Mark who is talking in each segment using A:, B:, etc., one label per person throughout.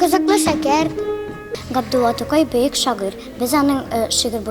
A: Кызыклы шәкерт. Габдулла Тукай бөек шагыйрь. Без аның шигырь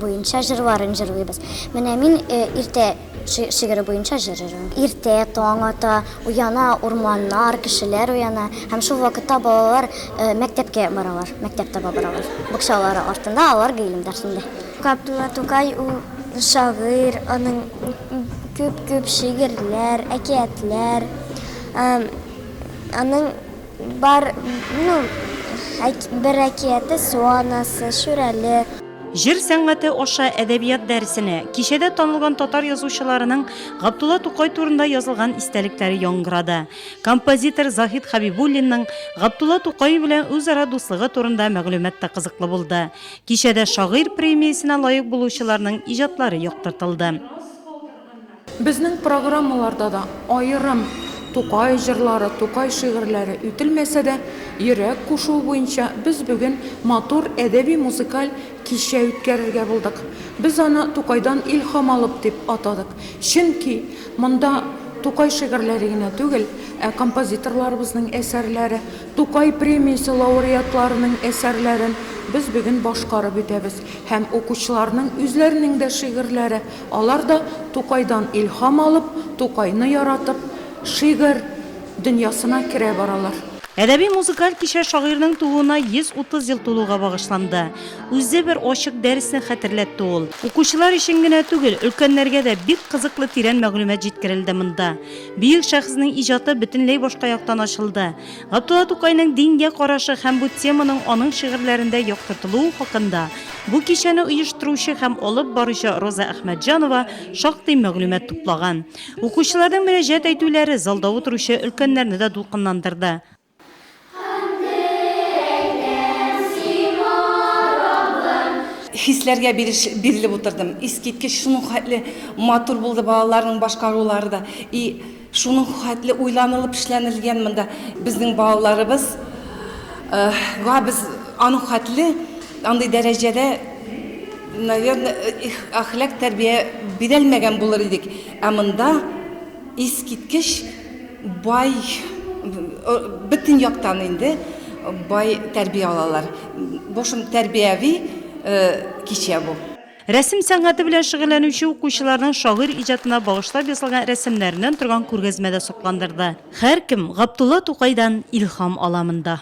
A: буенча җырларын җырлыйбыз. Менә мин Иртә шигыре буенча җыр җырлыйм. Иртә таң ата, уяна урманнар, кешеләр уяна. Һәм шул вакытта балалар мәктәпкә баралар, мәктәп таба баралар. Букчалары артында алар гыйлем дәрсендә. Габдулла Тукай ул шагыйрь, аның күп-күп шигырьләр, әкиятләр. Аның бар, ну, бер әкияте Су анасы, Шүрәле. Җыр сәнгате
B: аша әдәбият дәресенә, кичәдә танылган татар язучыларының Габдулла Тукай турында язылган истәлекләре яңгырады. Композитор Заһит Хәбибуллинның Габдулла Тукай белән үзара дуслыгы турында мәгълүмат та кызыклы булды. Кичәдә шагыйрь премиясенә лаек булучыларның иҗатлары яктыртылды.
C: Безнең программаларда да аерым Тукай җырлары, Тукай шигырьләре үтелмәсә дә, йөрәк кушуы буенча без бүген матур әдәби-музыкаль кичә үткәрергә булдык. Без аны Тукайдан илһам алып дип атадык. Чөнки монда Тукай шигырьләре генә түгел, ә композиторларыбызның әсәрләре, Тукай премиясе лауреатларының әсәрләрен без бүген башкарып үтәбез һәм укучыларның үзләренең дә шигырьләре, Алар да Тукайдан илһам алып, Тукайны яратып, шигырь дөньясына керә баралар. Әдәби-музыкаль
B: кичә шагыйрьнең тууына 130 ел тулуга багышланды. Үзе бер ачык дәресне хәтерләтте ул. Укучылар өчен генә түгел, өлкәннәргә дә бик кызыклы тирән мәгълүмат җиткерелде монда. Бөек шәхеснең иҗаты бөтенләй башка яктан ачылды. Габдулла Тукайның дингә карашы һәм бу теманың аның шигырьләрендә яктыртылуы хакында бу кичәне оештыручы һәм алып баручы Роза Әхмәтҗанова шактый мәгълүмат туплаган. Укучыларның мөрәҗәгать әйтүләре залда утыручы өлкәннәрне дә дулкынландырды.
D: Хисләргә биреш бирелеп утырдым. Искиткеч, шуның хәтле матур булды балаларның башкарулары да. И. Шуның хәтле уйланылып эшләнелгән монда. Безнең балаларыбыз га без аның хәтле андый дәрәҗәдә, наверное, әхлак тәрбия бирәлмәгән булыр идек. Ә монда искиткеч бай, бөтен яктан инде бай тәрбия алалар. Бу шундый тәрбияви кичә бу. Рәсем сәнгате
B: белән шөгыльләнүче укучыларның шагыйрь иҗатына багышлап ясалган рәсемнәреннән торган күргәзмә дә сокландырды. Һәркем Габдулла Тукайдан илһам ала монда.